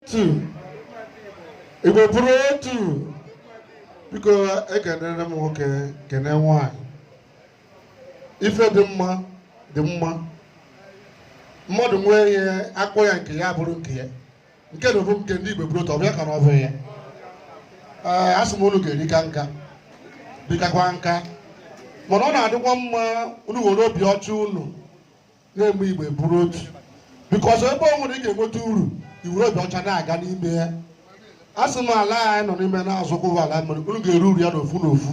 otu igbo bụrụ otu biko ekenere m nwoke kene nwanyị ife dị mma dị mma mmadụ nwee ihe a kpọ ya nke ya bụrụ nke ya nke na ọ bụ nke ndị igbo bụrụ otu ọbịa ka na ọ bụ ya ee asị m unu ga-erika nka bikakwa nka mana ọ na-adịkwa mma unu were obi ọcha unu na-eme igbo bụrụ otu bikos ebe ọ nwere ị ga-enweta uru i were obi ọcha na-aga n'ime ya asị m ala anyị nọ n'ime na-azụkwa ụwa ala mmiri unu ga-eri uru ya n'ofu n'ofu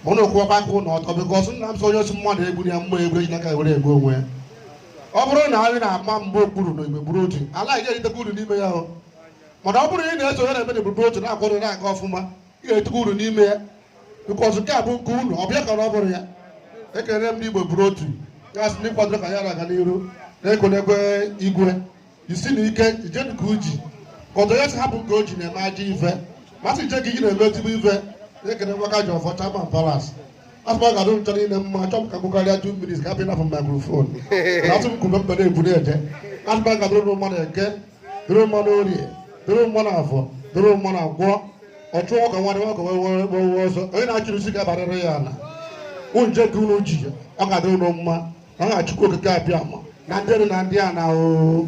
ma unu kwụọ aka unu ọtọ bikos nna m sị onye si mmadụ egbu ya mma egbu e ji n'aka were egbu onwe ya ọ bụrụ na anyị na-ama mgba okpuru na igbo bụrụ otu ala anyị ga-eritekwa uru n'ime ya o mana ọ bụrụ na ị na-eso onye na-eme na igbo bụrụ otu na-akwado na-aga ọfụma ị ga-eritekwa uru n'ime ya bikọz nke a bụ nke unu ọ bịa ka ọ bụrụ ya ekele m ndị igbo bụrụ otu ya sị na ị kwadoro ka ya na-aga n'iru na-ekenekwa igwe isi na ike jide ka o ji ka ọtọ ya si hapụ nke o ji na-eme ajọ ife ma sị jide ka i ji na-eme ezigbo ife na-ekele nwaka ji ọfọ chairman palace asị m ọ ga-adị ncha niile mma chọọ m ka kwukarịa two minutes ka a hapụ ịnafụ microphone na a sị m kwube mbe na-ekwu na-eje asị m ọ ga-adịrị unu mma n'eke dịrị mma n'orie dịrị mma n'afọ dịrị mma na nkwọ ọchụ ọkụkọ nwe ada nwa ọkụkọ nwe wee wee ọsọ onye na-achịrị isi ga-abarịrị ya ana unu jide ka unu ji ọ ga-adịrị unu mma n'aka chukwu okike abịama na ndị elu na ndị ana oo